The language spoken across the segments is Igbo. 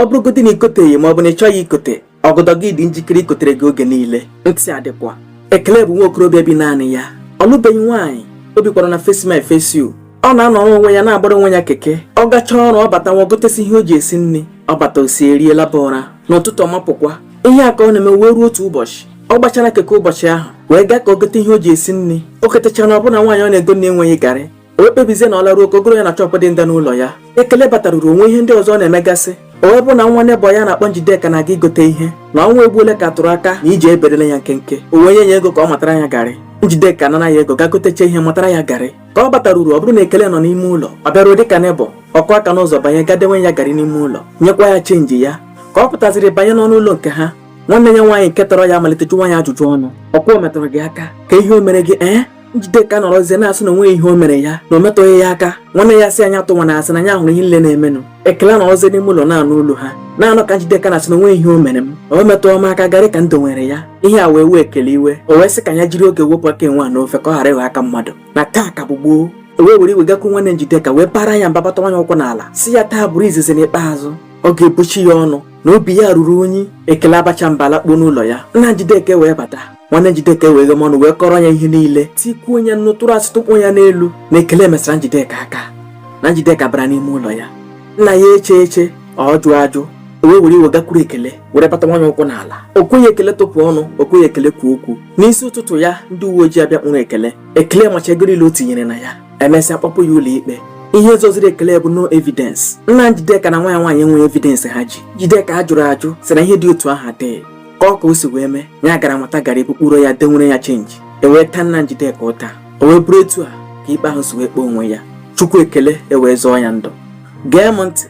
ọ bụrụgodị na ikoteghị ma ọ bụ na ị chọghị ikote ọgọdọ gị dị njikere ikotere gị oge niile ntị adịkwa ekele bụ nwa okorobịa bi naanị ya ọ lụbeghị nwaanyị o bikwara na face me I face you ọ na-anọrọ onwe ya na-agbara onwe ya keke ọ gachaa ọrụ ọ batawa gotesi ihe o ji esi nri ọ bata o sie rie laba ụra n'ụtụtụ ọ mapụkwa ihe a ka ọ na-eme wee ruo otu ụbọchị ọ gbachara keke ụbọchị ahụ wee gaa ka o gote ihe o ji esi nri o gotechara ọ bụrụ na nwaanyị ọ na-egona enweghị garị o kpebizie na ọ laruo ka o goro ya na shop dị nda n'ụlọ ya ekele bataruru o nwee ihe ndị ọzọ ọ na-emegasị o wee bụ na nwa nebọ ya a na-akpọ njideka na-aga igote ihe na ọnwa egbuole ka tụrụ aka na iji eberele ya nkenke o wee nye ya ego ka ọ matara ya garị njideka nara ya ego gaa gotecha ihe matara ya garị ka ọ bataruru ọ bụrụ na ekele nọ n'ime ụlọ ọ bịaruo dịka nebọ ọ kụọ aka n'ụzọ banye gaa dewere ya garị n'ime ụlọ nyekwa ya chenji ya ka ọ pụtaziri banye n'ọnụ ụlọ nke ha nwanne ya nwaanyị nke tọrọ ya malite jụwa ya ajụjụ ọnụ ọkwa o metụrụ gị aka ka ihe o mere gị ee Njideka nọrọzie na-asị na o nweghị ihe o mere ya na o metụghị ya aka nwanne ya sị ya atụkwana asị na ya hụrụ ihe niile na-emenụ ekele nọrọzie n'ime ụlọ na-anụ olu ha na-anụ ka Njideka na-asị na o nweghị ihe o mere m o metụghị m aka garị ka m dowere ya ihe a wee wee ekele iwe o wee sị ka ya jiri oge wepụ aka enwe n'ofe ka ọ ghara ịghọ aka mmadụ na taa ka bụ gboo o wee were iwe gakwuru nwanne Njideka wee baara ya mba bata wanye ụkwụ n'ala sị ya taa bụrụ izizi na ikpeazụ ọ ga-ebuchi ya ọnụ na obi ya ruru unyi ekele abacha mba lakpuo n'ụlọ ya nna Njideka wee bata nwanne Njideka emeghee ọnụ wee kọrọ ya ihe niile tikwuo ya nnu tụrụ asị tụkpọ ya n'elu na ekele mesara Njideka aka na Njideka bara n'ime ụlọ ya nna ya echeghị eche ọ jụghị ajụ o wee were iwe gakwuru ekele were bata wanye ụkwụ n'ala o kweghị ekele tụpụ ọnụ o kweghị ekele kwuo okwu n'isi ụtụtụ ya ndị uwe ojii abịa kpụrụ ekele ekele macha ego niile o tinyere na ya emesịa kpọpụ ya ụlọ ikpe ihe zọziri ekele bụ no evidence nna Njideka na nwa ya nwaanyị enweghị evidence ha ji Njideka jụrụ ajụ sị na ihe dị otu ahụ adịghị kọọ ka o si wee mee ya gara mata garị bukpuro ya dewere ya chenji e wee taa nna Njideka ụta o wee bụrụ etu a ka ikpe ahụ si wee kpee onwe ya chukwu ekele ewee zọọ ya ndụ gee m ntị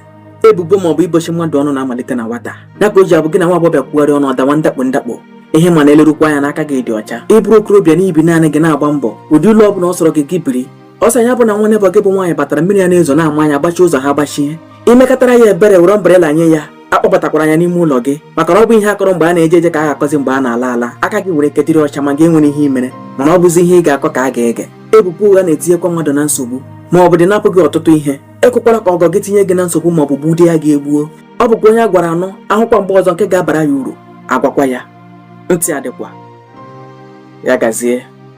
ebubo ma ọ bụ ibochi mmadụ ọnụ na-amalite na nwata ya ka o ji abụ gị na nwa agbọghọ kwugharị ọnụ ọ dawa ndakpo ndakpo ihe ma na-elerukwa anya na aka gị dị ọcha ị bụrụ okorobịa na i bi naanị gị na-agba mbọ ụdị ụlọ ọ bụla ọ sọrọ gị gị biri ọ sọ ya bụ na nwa nebọ gị bụ nwaanyị batara mmiri a na-ezo na-ama ya agbachi ụzọ ha gbachie i mekatara ya ebere were umbrella nye ya akpọbatakwala ya n'ime ụlọ gị maka na ọ bụghị ihe a kọrọ mgbe a na-eje eje ka a ga-akọzi mgbe a na-ala ala aka gị nwere ike dịrị ọcha ma gị enweghị ihe i mere mana ọ bụzi ihe ị ga-akọ ka a ga-ege ebubo ụgha na-etinyekwa mmadụ na nsogbu ma ọ bụdị napụ gị ọtụtụ ihe ekwekwala ka ọgọ gị tinye gị na nsogbu ma ọ bụ gbudị gị egbu ọ bụkwa onye a gwara anụ a hụkwa mgbe ọzọ nke ga-abara ya uru a gwakwa ya ntị adịkwa ya gazie